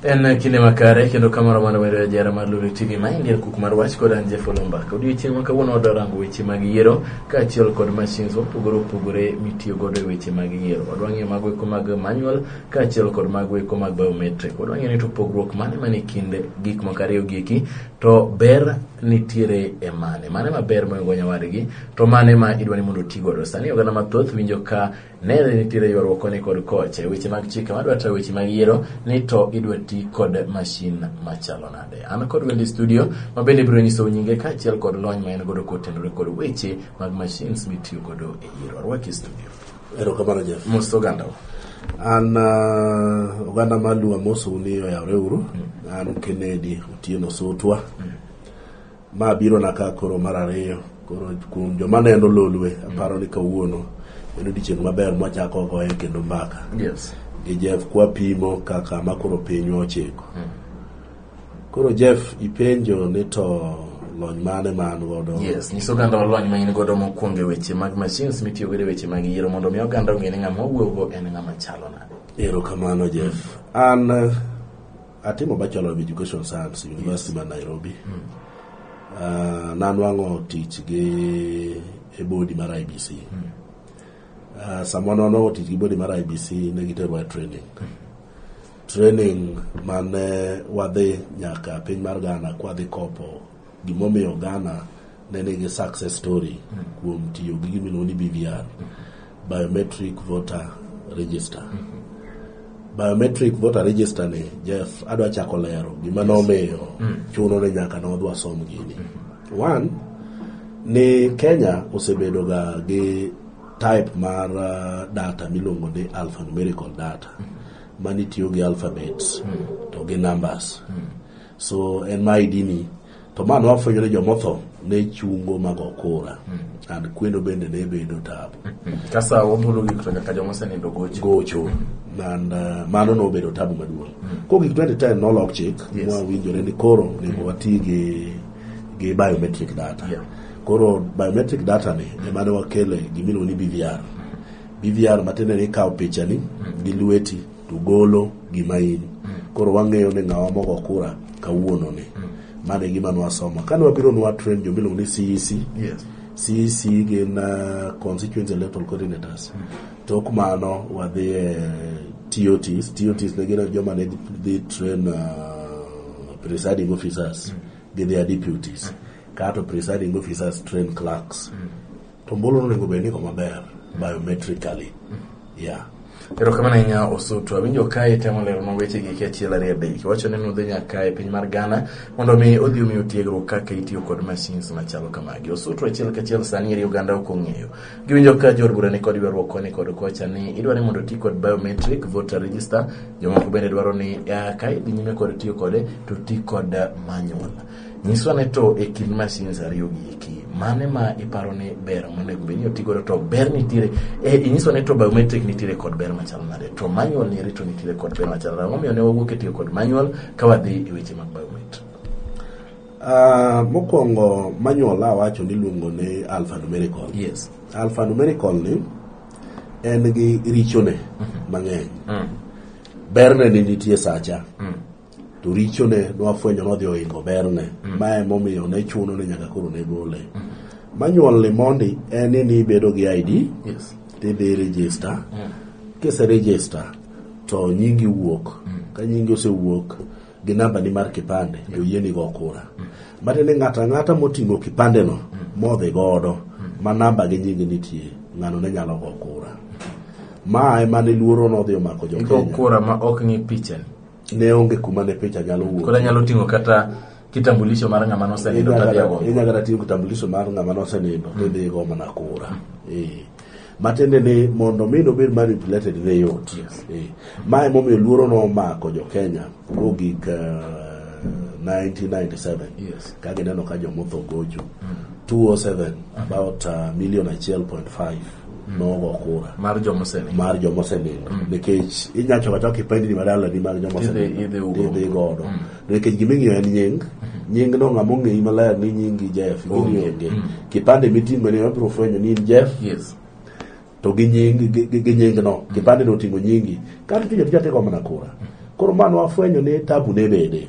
en kinde makare kendo kamoro mano wedo jara mar Lulu TV ma india kuk mar wach kod an Jeff Olomba kod odiechieng' ma kawuono wadwa rango weche mag yiero kaachiel kod machines mopogore opogore mitiyo godo e weche mag yiero wadwa ng'eyo mago eko mag manual kaachiel kod mago eko mag biometric wadwa ng'eyo ni to pogruok mane mane kind gik moko ariyo gi eki To ber nitiere e mane? Mane ma ber monego nyawadgi? To mane ma idwa ni mondo oti godo? Sani oganda mathoth winjo ka nere nitiere ywaruok koni kod kocha e weche mag chike madwa tayo weche mag yiero ni to idwa ti kod mashin machalo nade? An kod wendi studio ma bende biro nyiso nyinge kaachiel kod lony ma en godo kotenore kod weche mag mashins mitiyo godo e yiero. Arwaki studio. Erokamano Jeff. Mos oganda. An uh, oganda mar Luo Amosu ni oyawre uru. Mm. An Kennedy Otieno Sotwa. Mm. Ma biro na ka koro mar ariyo. Koro kuom joma neno Lolwe mm. aparo ni kawuono en odiechieng' maber mwachako goye kendo mbaka. Yes. Gi Jeff kwapimo kaka makoro pinywa ochiko. Mm. Koro Jeff ipenjo ni to lony mane ma an godo. Yes, nyiso oganda lony ma in godo mokwongo e weche mag machines mitiyo godo e weche mag yiero mondo mi oganda ong'e ni ng'ama owuogo en ng'ama chalo nade. Erokamano Jeff. An eh, atimo Bachelor of Education Science University ma Nairobi. Ah, nanwang'o tich gi e bodi mar IBC. Ah, sama nanwang'o tich gi bodi mar IBC ne giterwa e training. Training mane wadhi nyaka piny mar Ghana kwadhi kopo gimomiyo Ghana ne nigi success story kuom tiyo gi gimiluongo ni BVR, Biometric Voter Register. Biometric Voter Register ni, Jeff, adwa chako lero gima nomiyo mm. chuno ni nyaka ne wadwa som gini. One, ni Kenya osebedo ga gi type mar uh, data miluongo ni alphanumerical data. Mm -hmm. mani tiyo gi alphabets hmm. to gi numbers hmm. so en ma ID ni to ma nwafwenyo ni jomotho ne chungo mago kura hmm. and kwendo bende ne bedo tabu kasa wabolo gik to nyaka joma osenindo gocho gocho and uh, mano nobedo tabu maduong' ko gik 2010 nolok chik mwawinjore ni koro onego wati gi gi biometric data koro biometric data ni emane wakele gimiluongo ni BVR BVR matiende ni ikawo pichani mm. gi lweti to golo gima in. Mm. Koro wang'eyo ni ng'awa mogo kura kawuono ni. Mm. Mane gima nwasomo. Kane wabiro nwa train jo miluongo ni CEC. Yes. CEC gin uh, constituency electoral coordinators. Mm. Tok mano wadhi e TOTs. TOTs ne gin joma ne dhi train uh, presiding officers. Mm. Gidhi a deputies. Mm. Kato presiding officers train clerks. Mm. To ombulu onego bed ni maber biometrically. Yeah. Erokamano ahinya Osutu. Awinjo kae temo leronwa weche gi achiel ariyo adek. Iwacho ni nudhi nyaka e piny mar Ghana mondo mi odhi omiyo tiegruok kaka itiyo kod machines machalo kamagi. Osutu achiel kachiel sani eri oganda ok ong'eyo. Giwinjo ka jor bura ni kod ywaruok koni kod kocha ni idwa ni mondo oti kod biometric voter register. Jomoko bende dwaro ni ka idhi nyime kod tiyo kode to ti kod manual. Nyiswa ne to e kind machines ariyo gi eki mane ma iparo ni ber monego bed ni oti godo to ber nitiere e, inyiso ne to biometric nitiere kod ber machal nade to manual ni rito nitiere kod ber machal nade momiyo ne wawuok e tiyo kod manual ka wadhi e weche mag biometric Uh, mokwongo manual awacho ni luongo ni alphanumerical yes alphanumerical ni en gi richone mhm. mang'eny mm. berne ni nitie sacha mm. to richone nwafwenyo nodhi ohingo berne mm. ma emomiyo ne chuno ni nyaka koro ne gole mm. manual ni mondi en ni nibedo gi id yes. tidhi register mm. kise register to nyingi wuok mm. ka nyingi osewuok gi namba ni mar kipande to yie nigo kura mm. mati ni ng'ato ang'ata moting'o kipandeno mm. modhi godo mm. ma namba gi nyingi nitie ng'ano ne nyalo go kura ma ema ne luoro nodhi omako jokenya kura ma ok ng'i pichani ne onge kuma ne picha nyalo wuok koro anyalo ting'o kata kitambulisho mar ng'ama nosenindo tadhi ago inyalo kata ting'o kitambulisho mar ng'ama nosenindo tidhi igo mana kura Eh. matiende ni mondo mi nobed manipulated ne yot Yes. Eh. ma emomiyo luoro nomako jo kenya kogik eh, 1997 Yes. ka gineno ka jomotho gocho 207 about uh, million achiel point five nogo kura mar joma osenindo mar joma osenindo mm. nikech inya choka choka ipendi ni madala ni mar joma osenindo idhi godo mm. nikech gima ing'iyo en nying mm-hmm. nying no ng'ama ong'eyi maler ni nyingi Jeff gini onge mm. kipande miting'o ni wabiro fwenyo ni in Jeff to gi nying gi nying no kipande no oting'o nyingi kar tiyo tija tego mana kura koro mano wafwenyo ni tabu ne bede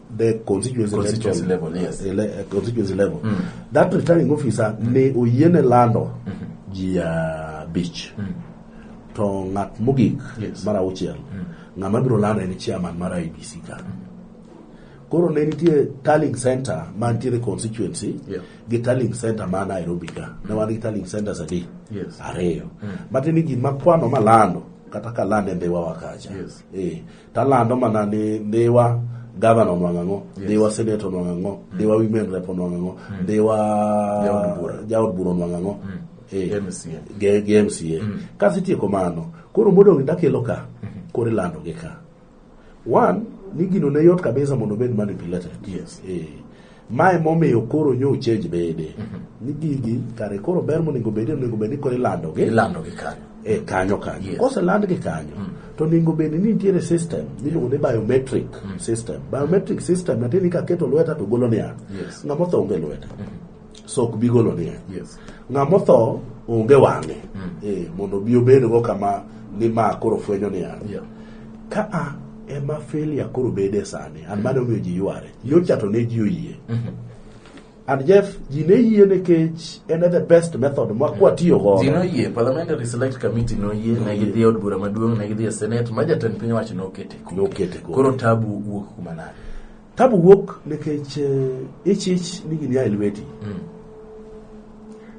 the constituency, constituency level, level yes. ele, eh, constituency level mm. that returning officer mm. ne oyiene lando mm -hmm. ji ya uh, beach mm. to ng'at mogik yes. mar auchiel mm. ng'ama biro lando en chairman mar IBC ka mm. koro ne nitie tallying center ma nitiere constituency yeah. gi tallying center ma Nairobi ka mm. ne wan gi tallying centers adi yes. ariyo mm. matiende gima kwano malando kata ka lando e mbewa wakacha yes. eh. Talando mana ni Dhiwa gavana onwang' ang'o yes. dhiwa senet onwang' ang'o mm. dhiwa women rep onwang' ang'o mm. dhiwa jaod bura onwang' ang'o mm. eh, gi mca mm. kasitieko mano koro modong' dakelo ka mm-hmm. koro ilando gi ka one ni gino ne yot kabisa mondo obed manipulated yes. eh, Mae momiyo koro nyo change bede. Mm -hmm. Ni gigi kare koro ber monego bede onego bede koro ilando gi. Ilando gi kanyo. E kanyo kanyo. Yes. Kose land gi kanyo. Mm. To onego bede ni nitiere system miluongo ni biometric mm. system. Biometric system natieni ni kaketo lweta to golo niya. Yes. Ng'ama otho onge lweta. Mm -hmm. So ok bi golo niya. Yes. Ng'ama otho onge wang'e. Mm. Eh, mondo bi obedgo kama ni ma koro fwenyo niya. Yeah. ka a ema failure koro bede sani an mane omiyo ji yware nyocha to ne ji oyie and jeff ji ne yie nikech en e the best method ma kwatiyo godo ji noyie parliamentary select committee noyie ne gidhi e od bura maduong' ne gidhi e senate ma jatend piny owacho nokete Nokete koro. koro tabu wuok kuma nade Tabu wuok nikech eh, ichich ni gini a e lweti. Mm.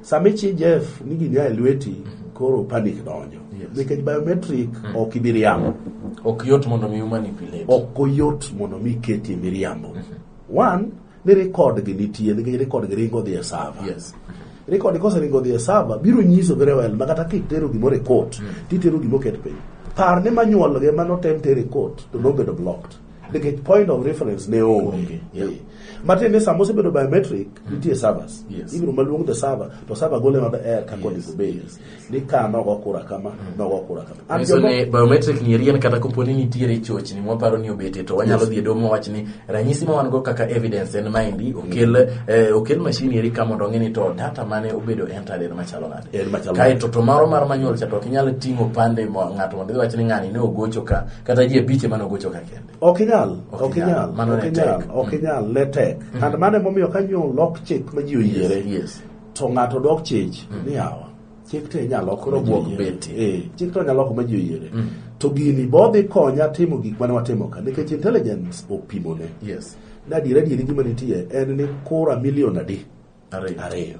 Sama ichich Jeff ni gini a e lweti, mm-hmm. koro panic donjo. Nikech biometric mm. ok ibi riambo. Ok yot mondo mi manipulate. Ok oyot mondo mi keti miriambo. Mm-hmm. One, ni record gi nitie nikech record gi ringo dhi e server. Yes. Record koseringo dhi e server biro nyiso very well ma kata kitero gimoro e court, mm. titero gimoro ket piny. Par ni manyuolge manotem tere court to nobedo blocked. nikech point of reference ne onge Yeah. Eh. matiende ni sama osebedo biometric nitie servers Mm. Yes. ibiro maluong the server to server gole nod air kaka Yes, onego bedi yes, Mm. ni ka nogo kura kama nogo kura kama And Nyiso jogo- ni biometric ni riel kata kopo ni nitiere chochni mwaparo ni obete to wanyalo dhi e domo wach ni ranyisi ma wan go kaka evidence en maendi okel eh, okel machine eri ka mondo ong'e ni to data mane obedo entered en machalo nade En machalo. kae to to maro mar manyuol cha to ok inyal ting'o pande mo- ng'ato mondo idhi wach ni ng'ani ne ogocho ka kata ji abich ema ne ogocho ka kende Ok inyal, Ok ok inyal, inyal, mano ok ne inyal, tek. ok inyal, ne tek. And mano emomiyo ka nyo lok chik ma ji oyiere, yes to ng'ato dok chich ni yawa. Chik to inyalo lok Koro ma ji buok oyiere. beti. Eh, chik to inyalo lok ma ji oyiere. To gini bodhi konya timo gik mane watimo ka nikech intelligence opimone. yes Na adiera adieri gima nitie en ni kura milion adi? ariyo Ariyo.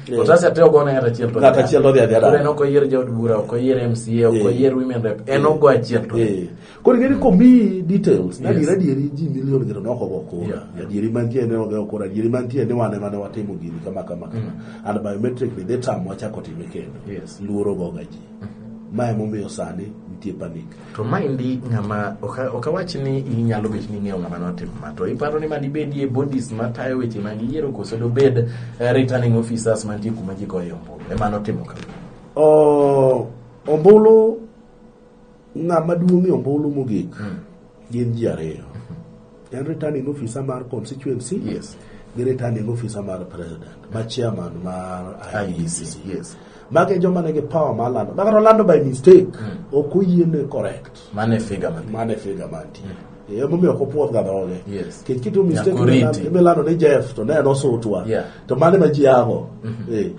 Eh. Otas ate ogo ne achiel to. Ng'at achiel odhi adhi adara. Koro oyier jood bura, ok oyier MCA, ok eh. oyier women rep. En eh. ogo achiel to. Koro ngeni komi details, na dira dieri ji milion gero noko go ko. Ya dieri mantie ne ogo ko, dieri mantie ne wane mane watimo gini kama kama kama. Mm. And biometric ni data mo chako time kendo. Luoro go gaji. Mm. Mae momiyo sani nitie panik. To maendi ng'ama ok awach ni inyalo bet ni ing'eyo ng'ama notimo ma to iparo ni madibedie bodies matayo weche mag yiero koso dobed eh, returning officers mantie kuma ji goyo ombulu ema notimo ka ombulu ng'ama duong'ie ombulu mogik hmm. gin ji ariyo En returning officer mar constituency. Yes. Gi returning officer mar president. Ma chairman mar IEBC. IEBC. Yes. Mage joma nigi power mar lando. Makata lando by mistake. Ok oyiene correct. Mane figa man. Mane figa mantie. Yeah. Emomiyo ok opuoth ga dhoge. Yes. Kech kitu mistake Nyaka oriti. imi- imilando ni Jeff to ne en osutwa. Yeah. To mane ma ji ago. Eh.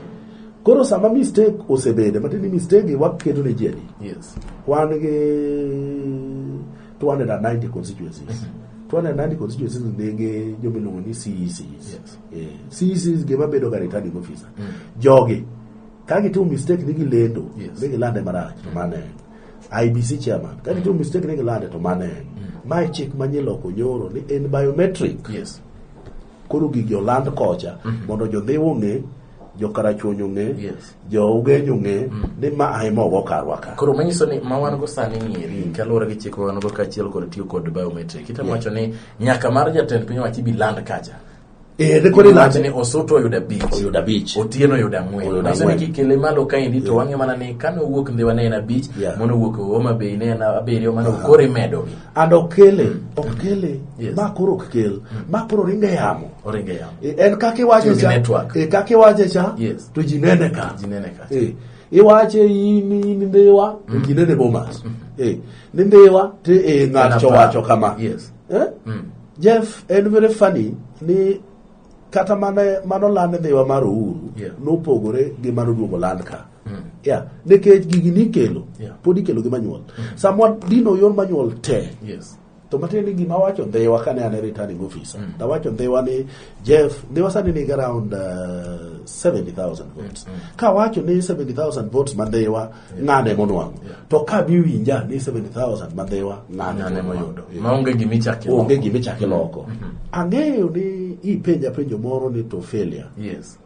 Koro sama mistake osebede, matiende ni mistake gi waketo ne ji adi? Yes. Wan gi 290 constituencies mm -hmm. 290 constituencies ndege joma iluongo ni CECs. Yes. Eh, CECs gima bedo ga returning officer. Mm. Jogi ka gitimo mistake ni gilendo, yes. ni gilande marach to mane en. IBC chairman ka gitimo mm. mistake ni gilande to mane en. Mm. Mae chik manyie loko nyoro ni en biometric. Yes. Koro gigi oland kocha mm -hmm. mondo jodhiwo ng'e jokarachuonyo ng'e yes. jougenyo ng'e mm. ni ma ahima ogo karwa ka koro manyiso ni ma wan go sani ng'eri mm. kaluwore gi chik wan go kaachiel kod tiyo kod biometric itemo yeah. wacho ni nyaka mar jatend piny owacho ibi land kacha Eh, rekodi lati ni osoto oyudo abich oyudo abich otieno oyudo ang'wen nyiso ni kikele malo kaendi to wang'e mana ni kane owuok ndhiwa ne en abich mono owuok e homa bay ne en abiriyo mano koro imedogi and ok kele mm. ok mm. kele yes. ma koro ok kel mm. ma koro ringe yamo oringe yamo e, en kaka iwache cha e kaka iwache cha yes. to ji nene ka ji nene ka e iwache in in ndewa mm. ji nene bomas mm. e ni ndewa te e ng'at chowacho kama yes eh? mm. Jeff en very funny ni kata mane mano land dhiwa mar uhuru Yeah. nopogore gi mano duogo land ka yeah. nikech gigi nikelo Yeah. pod ikelo gi manyuol samwa dino yor manyuol te Yes. to matiende ni gima wacho dhiwa kane an e returning officer nawacho dhiwa ni jeff dhiwa sani nigi around uh, 70000 votes kawacho ni 70000 votes ma dhiwa ng'ane monwang'o to ka biwinja ni 70000 madhiwa ng'ane moyudo maonge gima ichaki onge gima ichaki loko mhm. ang'eyo ni ipenja penjo moro ni to failure yes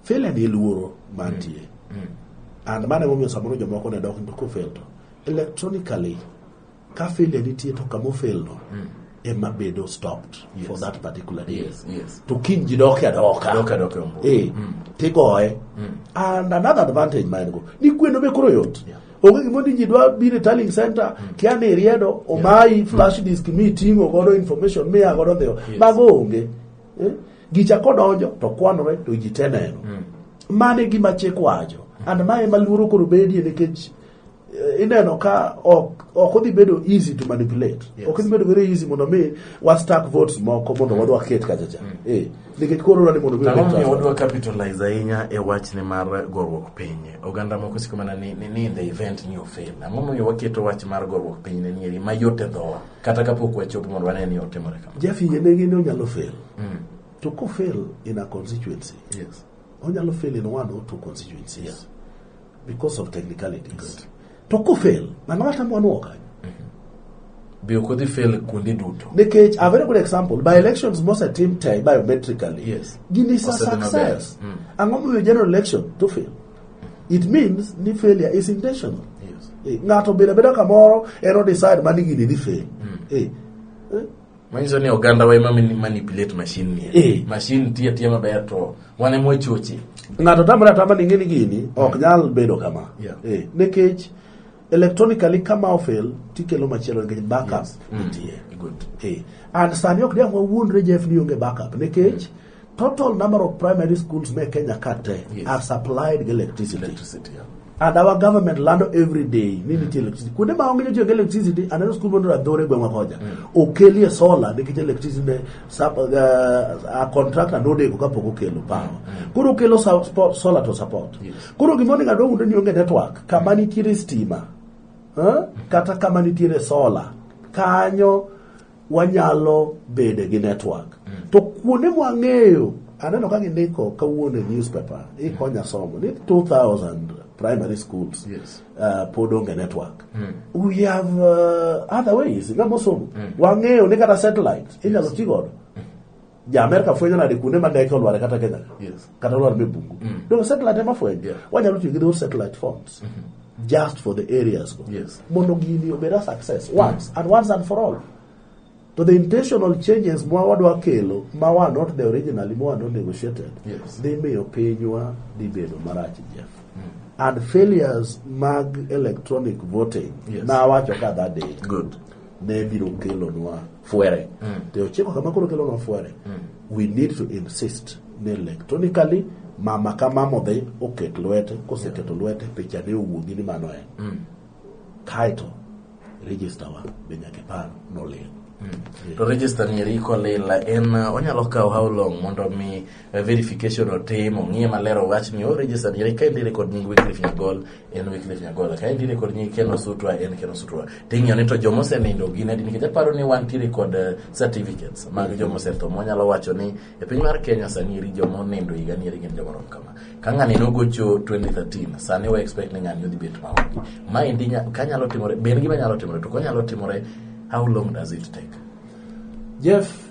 failure ni luoro mantie mm. mm. and mane momiyo samoro jomoko ne dok to kofel to electronically Ka failure nitie to kama ofelno mm. ema bedo stopped yes. for that particular day. Yes, yes. To kiny ji doke adoka. Doke adoke ombo. Eh, mm. tigoe. Mm. And another advantage ma en go, ni kweno be koro yot. Yeah. onge gimondo ji dwa biro e tallying center mm. kia ni iriedo omayi yeah. flash mm. disk mi ting'o godo information miya godo dhiyo yes. mago onge eh? gicha kodonjo to kwanore to ji te neno mm. mane gima chik wacho mm. and mae ma luoro koro bedie nikech Eh, ineno ka ok ok odhi bedo easy to manipulate yes. ok odhi bedo very easy mondo mi wa stack votes moko mondo mm. wadwa ket kacha cha mm. eh nikech koro rani mondo mi wadwa capitalize ahinya e wach ne mar gorwok piny oganda moko siko mana ni ni in the event ni ofel ang'o momiyo waketo wach mar gorwok piny ne nieri mayot e dhowa kata kapok wachopo mondo wane ni otimore kamano jafinye ne gini onyalo fail mm. to ko fail in a constituency yes onyalo fail in one or two constituencies yes. because of technicalities to kofel mano kata mwanuo kanyo be ok odhi fail kuonde duto nikech a very good example by elections mose tim te biometrically Yes. gin is a Osedhi maber. success Mm. ang'o momiyo general election to fail it means ni failure is intentional yes Eh, ng'ato bedo abeda kamoro en odecide mani gini dhi fail Eh, eh, Manyiso ni oganda wa ema manipulate machine ni. Eh. Machine tiya tiya maber to wane mwa choche. Ng'ato tamre atama ni ng'eni gini ok mm. nyal bedo kama. Yeah. Eh, nekech electronically kama ofel tikelo machielo nikech backup yes. Mm. nitie. Mm. Good. Eh. And sani ok diang' wawuondre Jeff ni onge backup nekech mm. Total number of primary schools me Kenya ka te Yes. are supplied gi electricity. Electricity. yeah. And our government lando every day ni nitie electricity. Kuonde ma onge jotiyo gi electricity, aneno skul mondo adhore gweng'wa kocha. Okelie solar nikech electricity ne sub, uh, a contractor nodeko kapok okelo power. Koro okelo sa- spo- solar to support. Yes. Koro gima onego adong undo ni onge network kama nitiere stima. Huh? Kata kama nitiere solar. Kanyo wanyalo bede gi network mm. to kuonde mwang'eyo aneno ka gindiko kawuono e newspaper ikonya mm. somo ni 2000 primary schools yes. uh, pod onge network mm. we have uh, other ways ng'ama osomo mm. wang'eyo ni kata satellite inyalo yes. ti godo ja Amerika fwenyo nade kuonde ma ndeke olware kata Kenya yes. kata olwar be bungu mm. donge satellite ema fwenyo yeah. wanyalo tiyo gi those satellite phones mm -hmm. just for the areas go yes. mondo gini obed a success mm. once mm. and once and for all to the intentional changes mwa wadwa kelo ma wa not the originally ma wa not negotiated yes. dhi miyo pinywa dhi bedo marach Jeff mm. and failures mag electronic voting yes. na wacho ka that day good ne biro kelonwa fuere mm. to ochiko kama koro kelo no fuere mm. we need to insist ni electronically mama ka mama odhi oket lwete koseketo lwete picha ne owuogi ni mano en mm. kaeto register wa be nyaka ipar nolil mm. to register ni eriko lila en onyalo kawo how long mondo mi verification otim ong'iye maler owach ni o register ni ka endire kod nying Wycliffe Nyagol en Wycliffe Nyagol ka endire kod nying Ken Osutwa en Ken Osutwa ting'iyo ni to joma osenindo gin adi nikech aparo ni wantiere kod eh, certificates mag joma osetho mwanyalo wacho ni e piny mar Kenya sani eri joma onindo higa ni eri gin joma rom kama ka ng'ani nogocho 2013 sani wa expect ni ng'ani odhi bet maonge ma endi nya- ka nyalo timore be en gima nyalo timore to konyalo timore how long does it take Jeff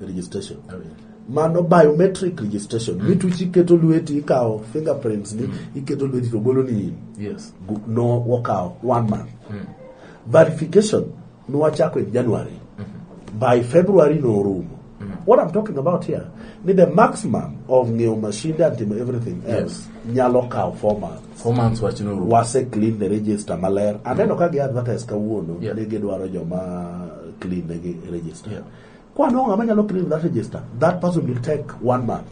registration oh, yeah. mano biometric registration mm. mituchi iketo lweti ikawo fingerprints ni mm. iketo lweti to golo ni yes. no wakawo one month mm. verification nwachako in january mm -hmm. by february norumo mm. what i'm talking about here ni the maximum of ng'eyo mashinde and timo everything else yes. nyalo kawo four months four months wach norumo wase clean the register maler aneno mm. ka gi advertise kawuono yeah. ni gidwaro joma clean ne gi register yeah. Kwano ng'ama nyalo clean that register, that person will take one month.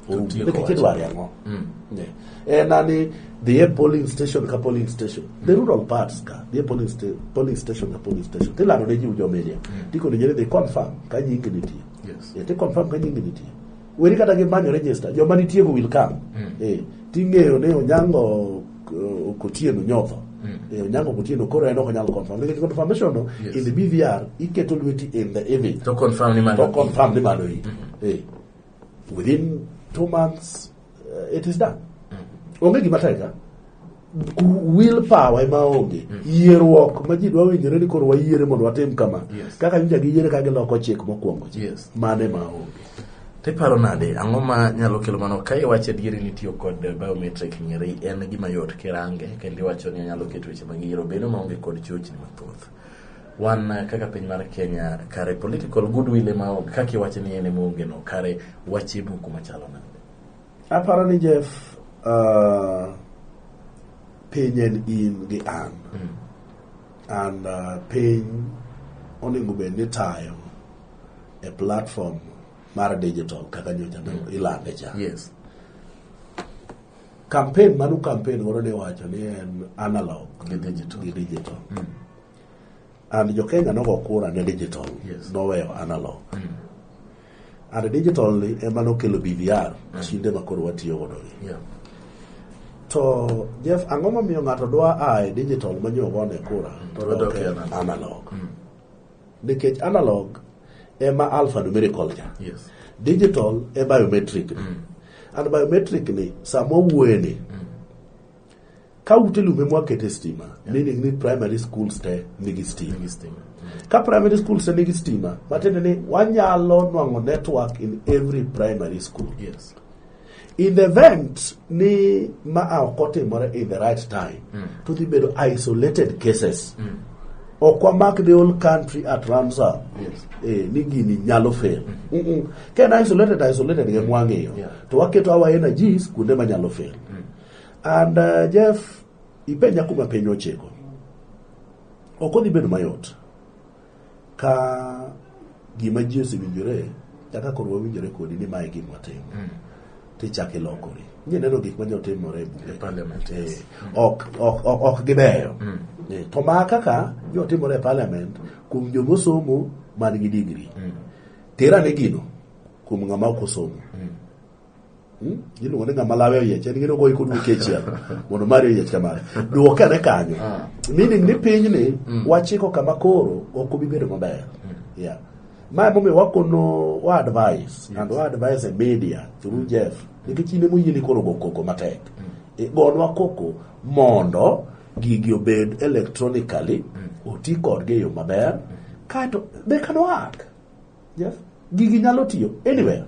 Otieko Nikech wacho. idwaro ang'o? Mm. Yeah. Eh, nani dhi e polling station ka polling station the rural parts ka dhi e polling, sta polling station ka polling station tilando ne ji ujo media tikoni jere dhi confirm ka nyingi nitie Yes. yeah, ti confirm ka nyingi nitie Weri kata gi manyo register, joma nitiego will come. Mm. Eh, ting'eyo ni Onyango uh, Okotieno nyotho. Mm. Eh, Onyango Okotieno koro en ok onyal confirm. Nikech confirmation no, Yes. in the BVR, iketo lweti in the image. To confirm ni mano. To confirm ni mano i. Eh, within two months, uh, it is done. Onge gima tek, ah. will power ema onge mm. yieruok ma ji dwa winjore ni koro wayiere mondo watim kama kaka nyicha giyiere ka giloko chik mokwongo cha mane ma onge tiparo nade ang'o ma nyalo kelo mano ka iwacho adieri ni tiyo kod biometric nyeri en gima yot kirange kendo iwacho ni anyalo keto weche mag yiero bedo maonge kod chochni mathoth wan eh, kaka piny mar kenya kare political goodwill ema kaka iwacho ni en ema onge no kare wache buku machalo nade Aparo ni Jeff uh, piny en in gi an. Mm. An uh, piny onego bed ni tayo e platform mar digital kaka nyocha mm. ilande cha. Yes. Campaign manu campaign godo ne wacho ni en analog gi digital. Gi digital. Mm. And jo Kenya nogo kura ne digital. Yes. Noweyo analog. Mm. And digital ni ema nokelo BVR, mashinde ma koro watiyo godo gi. Yeah. To Jeff, ang'o momiyo ng'ato dwa a e digital ma nyo ogone kura to Dwa dok dok e e analog. analog? Nikech analog ema alphanumerical cha. Yes. Digital e biometric ni. And biometric ni sama owuoye ni ka ute lumbe mwakete stima yeah. meaning ni primary schools te nigi stima ka primary schools te nigi stima matiende ni wanyalo nwang'o network in every primary school yes. in the event ni ma a ok otimore in the right time mm. to dhi bedo isolated cases mm. ok wamak the whole country at ramsar yes. eh, ni gini nyalo fail mm -hmm. mm -mm. ken isolated isolated mm -hmm. ge mwang'iyo yeah. to waketo our energies kuonde manyalo fail mm. And uh, Jeff, ipenja kuma piny ochiko. Ok odhi bedo mayot ka gima ji osewinjore kaka koro wawinjore kodi ni mae gima watimo mm. tichak ilokori nye neno gik ma jotimore e bunge eh, ok gibeyo mm. eh, to ma kaka jotimore e parliament kuom jomosomo man gi digri mm. tera ne gino kuom ng'ama ok osomo Hmm? iluongo ni ng'ama lawe oyiech en gino goyi kod wiki achiel mondo mari oyiech kamano duoke ane kanyo ah. meaning ni pinyni hmm. wachiko kama koro ok obi bedo maber hmm. yeah ma emomiyo wakono wa advice and wa advice e media through jeff nikech in emoyieni koro go koko matek igonwa e, koko mondo gigi obed electronically oti kodgi e yo maber kaeto they can work Jeff, gigi nyalo tiyo anywhere.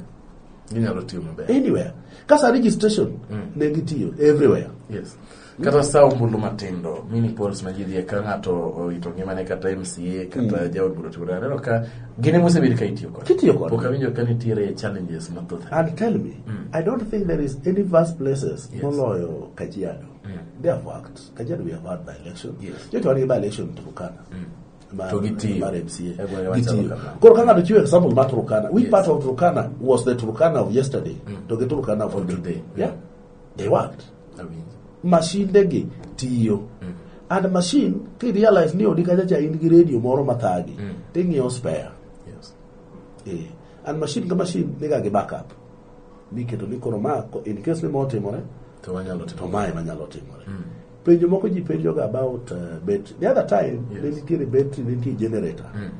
Ginyalo tiyo maber. Anywhere. Kasa registration mm. ne gitiyo everywhere. Yes. Kata sa ombulu matindo, mini polls ma ji dhie ka ng'ato orito ngimane kata MCA kata mm. jaod bura tugura. Aneno ka gine mosebedo ka itiyo kod. Kitiyo kod. Pok awinjo ka nitiere challenges mathoth. And tell me, mm. I don't think there is any vast places yes. moloyo Kajiado. Mm. They have worked. Kajiado we have had by election. Yes. Yetu wani by election Turkana. Mm. mar, To gitiyo. mar MCA. E gwenge machalo Gitiyo. kamano. Koro ka ng'ato chiwo example mar Turkana, which part of Turkana was the Turkana of yesterday to the Turkana of today? Yeah. They worked. Awinjo. mashindegi tiyo and machine kirealize ni odi kachacha in gi radio moro mathagi ting'iewo spare Yes. Eh, and machine ka machine niga gi backup miketo ni koro ma ko- in case ni ma otimore To wanyalo to timo. mae manyalo timore Penjo moko ji penjoga about uh, battery. The other time, yes. ne nitiere battery, ne nitiere generator. Mm.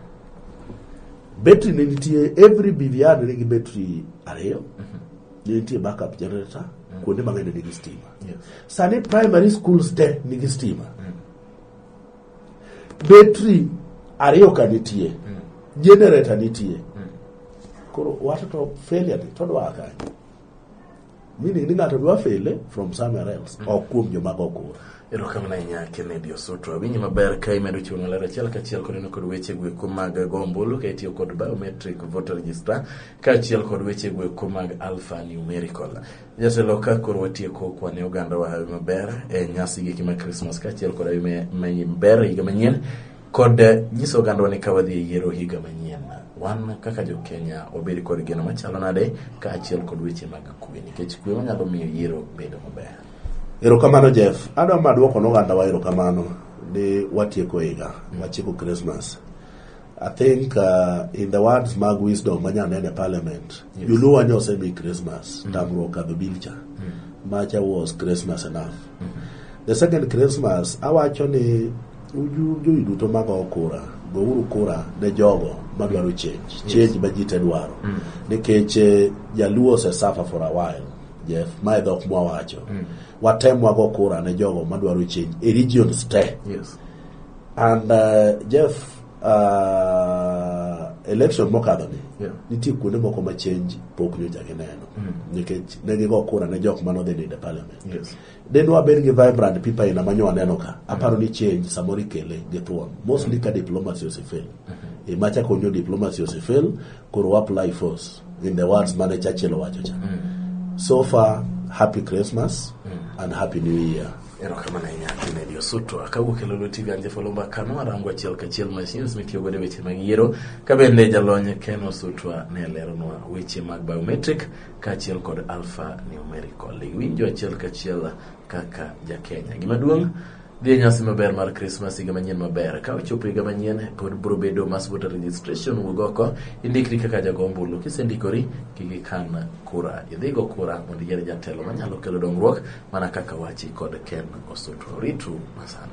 Battery ne nitie, every BVR ne nigi battery ariyo. Mm -hmm. Ne nitie backup generator, mm. kuonde mang'eny ne nigi stima. Yes. Sani primary schools te nigi stima. Mm. Battery ariyo ka nitie, mm. generator nitie. Mm. Koro watoto failure ni, todwa akanyo. Meaning ni ng'ato dwa fele from somewhere else, mm. ok kuom joma go kura. Erokamano ahinya Kennedy Osoto. Awinji maber ka imedo chiwo maler achiel kachiel koneno kod weche gweko mag go ombulu ka itiyo kod biometric voter register kaachiel kod weche gweko mag alpha numerical. Jatelo ka koro watieko kwane oganda wa hawi maber e nyasi giki ma Christmas kaachiel kod hawi maber higa manyien Kod nyiso ogandwa ni ka wadhi e yiero higa manyien, wan kaka jo Kenya wabed kod geno machalo nade kaachiel kod weche mag kwe nikech kwe manyalo miyo yiero bedo maber. Erokamano Jeff. Adwa ma dwoko noganda wa erokamano ni watieko higa, watieko Christmas. I think uh, in the words mag wisdom manya nene parliament, yes. Joluo wanya osemi Christmas, mm. tamruok kadho bilcha. Mm. Macha was Christmas enough. The second Christmas awacho ni jogi duto mago kura gouru kura ne jogo madwaro change change ma ji te dwaro mm. nikech eh, jaluo osesafa for a while Jeff, mae dhok mwawacho mm. watem wago kura ne jogo madwaro change e regions te yes. and uh, Jeff uh, election mokadho ni yeah. nitie kuonde moko ma change pok nyocha gineno mm. nikech ne gigo kura ne jok manodhi ninde parliament Yes. de ne wabed gi vibrant people aina ma nyo aneno ka aparo ni change samoro ikele gi thuon mostly ka diplomacy osefel e ma chako nyo diplomacy osefel koro wa apply force in the words mane Churchill owacho cha so far happy christmas and happy new year erokamano ahinya Kennedy Osuto akawuok e Lulu TV Anje Folomba Kano arango achiel kachiel machines mitiyo godo e weche mag yiero ka bende jalony Ken Osuto ne leronwa weche mag biometric kaachiel kod alpha numerical iwinjo achiel kachiel kaka jakenya gima duong' dhi e nyasi maber mar krismas higa manyien maber ka ochopo higa manyien pod biro bedo mass voter registration wuog oko indikri kaka jago ombulu kisendikori kik ikan kura idhi go kura mondo iyier jatelo manyalo kelo dongruok mana kaka wachi kod ken osutu ritru masani